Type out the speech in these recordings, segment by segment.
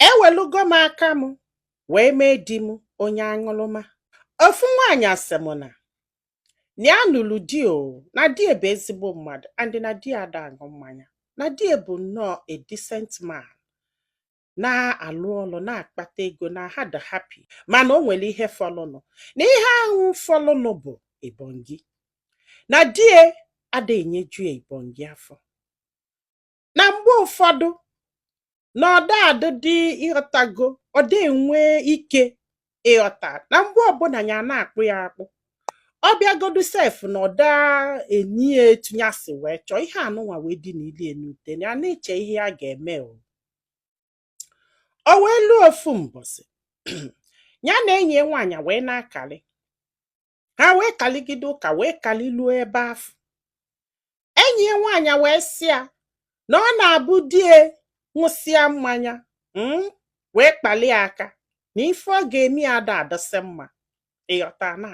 ewelugo m aka m wee mee di m onye aṅụrụma ofu nwaanyị sị m na na ya nụrụ di o na di ya bụ ezigbo mmadụ and na di ya ada aṅụ mmanya na di ya bụ nnọọ a decent man na-alụ ọlụ na-akpata ego na ha dị happy mana o nwere ihe fọlụnụ na ihe ahụ fọlụnụ bụ ibongi na di ya ada enyeju ya ibongi afọ na mgbe ụfọdụ na ọ da adụdị ị ghọtago ọ da enwe ike ịghọta na mgbe ọbụla ya na-akpụ ya akpụ ọ bịagodu sef na ọ da enye ya etu ya si wee chọọ ihe anụnwa wee dị na ili enute ya na-eche ihe ya ga-eme o o wee luo ofu mbọsị ya na enyi ya nwaanyị wee na-akalị ha wee kalịgide ụka wee kalịluo ebe afụ enyi ya nwaanyị wee sị ya na ọ na-abụ di ya ṅụsịa mmanya mm, wee kpalị ya aka na ife ọ ga-eme ya ada adịsị mma ị ghọta na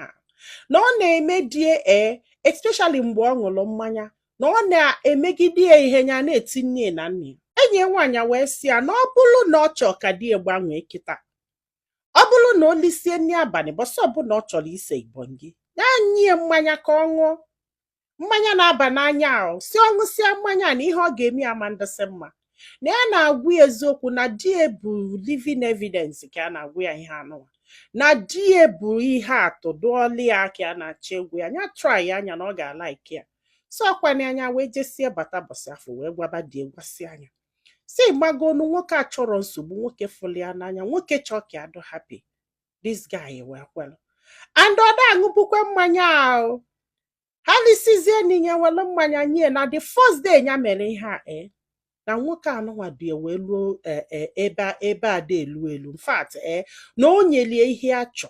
na ọ na-emedị ya ee especially mgbe ọ ṅụrụ mmanya na ọ na-emegide ya ihe ya na-eti nne na nna enyi ya nwaanyị wee sị ya na ọ bụrụ na ọ chọọ ka di ya gbanwee kịta ọ bụrụ na o lisie nri abalị bọsị ọbụla ọ chọrọ ise ibongi ya nye ya mmanya ka ọ ṅụọ mmanya na-aba n'anya ahụ sị ọ ṅụsịa mmanya na ihe ọ ga-eme ya ma ndịsị mma na ya na-agwa ya eziokwu na di ya bụ living evidence ka ya na-agwa ya ihe anụwa na di ya bụ ihe atụ dụlụ ya ka ya na-achọ ịgwa ya nya traịa nya na ọ ga-alaiki ya sị ọ kwa na nya wee jesie bata bọsị afụ wee gwaba di ya gwasịa nya sị ị magonụ nwoke achọrọ nsogbu nwoke fụlụ ya n'anya nwoke chọọ ka ya dụ happy this guy wee kwelu and ọ da aṅụbukwe mmanya ahụ ha lisizie nni nya welu mmanya nye ya na the first day ya mere ihe a ee eh, na nwoke anụnwa du ya wee luo eh, eh, ebe ebe a da elu elu in fact ee na o nyelu ya ihe ya chọ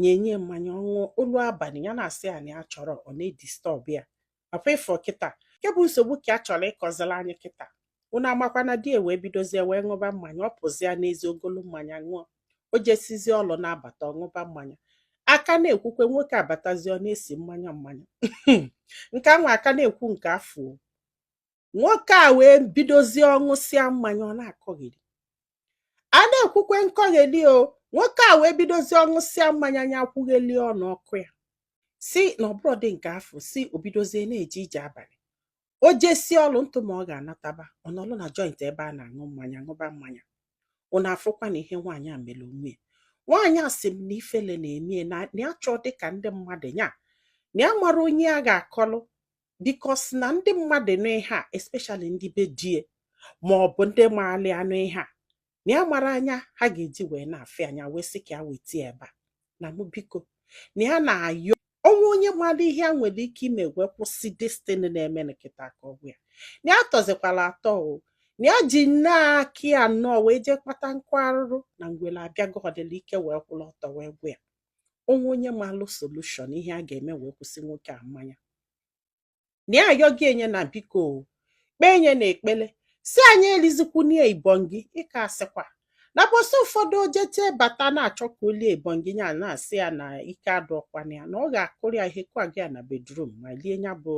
nya nye ya mmanya ọ ṅụọ o lu abalị ya na-asị ya na ya achọrọ ọ na-edistọb ya papa ị fụ kịta nke bụ nsogbu ka a chọrọ ịkọzilụ anyị kịta unu amakwa na di ya wee bidozie wee ṅụba mmanya ọ pụzia n'ezi o golu mmanya ṅụọ o jesizie ọlụ na-abata ọ ṅụba mmanya a ka na-ekwukwe nwoke abatazie ọ na-esi mmanya mmanya nke anwa a ka na-ekwu nke afụ nwoke a wee bidozie ọ ṅụsịa mmanya ọ na-akọgheri a na-ekwukwe nkọgheri o nwoke a wee bidozie ọ ṅụsịa mmanya nya kwugheli ọnụ ọ kụọ ya sị na ọ bụrọdị nke afụ sị o bidozie na-eje ije abalị o jesie ọlụ ntụ ma ọ ga-anataba ọ nọlụ na joint ebe a na-aṅụ mmanya ṅụba mmanya unu afụkwana ihe nwaanyị a mere onwe ya nwaanyị a sị m na ifele na-eme ya na ya achọdị ka ndị mmadụ ya na ya amarọ onye ya ga-akọlụ because na ndị mmadụ nụ ihe a especially ndị be di ya ma ọ bụ ndị maalị ya nụ ihe a na ya amara anya ha ga-eji wee na-afụ ya anya wee sị ka ya weta ya ebe a na mụ biko na ya na-ayọ o nwee onye mara ihe a nwere ike ime wee kwụsị this thing na-eme kịta ka ọ gwa ya na ya tọzikwara atọ o na ya ji nnọọ aka ya nnọọ wee jee kpata nkụ arụrụ na ngwere abịagodu ọla ike wee kwụrụ ọtọ wee gwụ ya o nwee onye malụ solution ihe a ga-eme wee kwụsị nwoke a mmanya na ya ayọ gị enye na biko kpee enye na ekpele si anyị elizikwunie ibongi ị ka asịkwa na ụbọsị ụfọdụ o jete bata na-achọ ka o lie ibongi ya na-asị ya na ike adụọkwana ya na ọ ga-akụrụ ya ihe kwa gị ya na bedroom ma lie ya bụ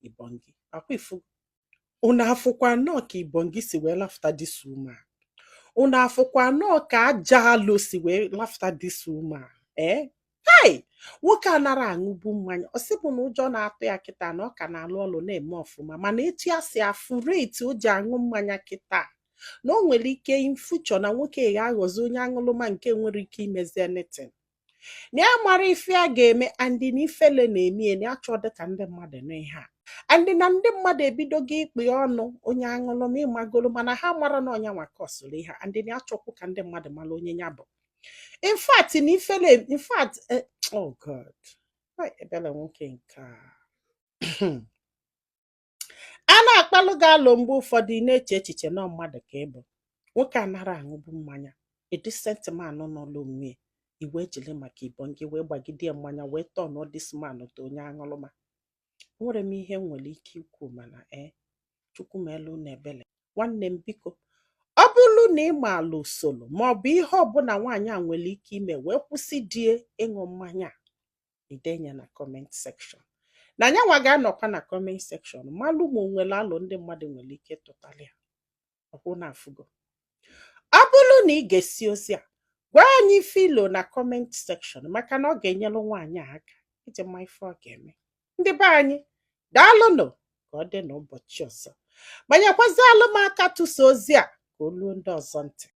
ibongi ọkwa ị fụ unu afụkwa nnọọ ka ibongi si wee lafuta this woman unu afụkwa nnọọ ka ajọ alo si wee lafuta this woman ee eh? hai nwoke a anara aṅụbu mmanya ọ sịbụ na ụjọ na-atụ ya kịta na ọ ka na-alụ ọlụ na-eme ọfụma mana etu ya si afụ rate o ji aṅụ mmanya kịta na o nwere ike in future na nwoke ga-aghọzi onye aṅụlụma nke enwere ike imezi anything na ya amara ife ya ga-eme and na ifele na-eme ya na ya achọọdụ ka ndị mmadụ nụ ihe a and na ndị mmadụ ebidogo ikpe ọnụ onye aṅụlụma ị magolo mana ha amara na ọ nyanwa kọsụrụ ihe and na ya achọkwu ka ndị mmadụ mara onye ya bụ in fact na ifele in fact eh, oh god Ai, ebele nwoke nke a a na-akpalụ gị alo mgbe ụfọdụ ị na-eche echiche na ọ mmadụ ka ị bụ nwoke anara aṅụbu mmanya a decent man nọlọ onwe ya i wee jiri maka ibongi wee gbagide ya mmanya wee tọnụọ this man to onye aṅụrụma nwere m ihe m nwere ike ikwu mana e Chukwu meelụ unu ebele nwanne m biko ọ bụrụ na ị maala usoro maọbụ ihe ọbụla nwaanyị a nwere ike ime wee kwụsị di ya ịṅụ mmanya i denye ya na comment section na nyanwa ga-anọkwa na comment section malụ ma o nwere alo ndị mmadụ nwere ike ịtụtali ya ọkwa unu afụgo ọ bụrụ na ị gesie ozi a gwa anyị ife i lo na comment section maka na ọ ga-enyere nwaanyị a aka iji ma ife ọ ga-eme ndị be anyị daalụnụ ka ọ dị n'ụbọchị ọzọ ma nyekwazịalụ m aka tụsa ozi a ka o luo ndị ọzọ ntị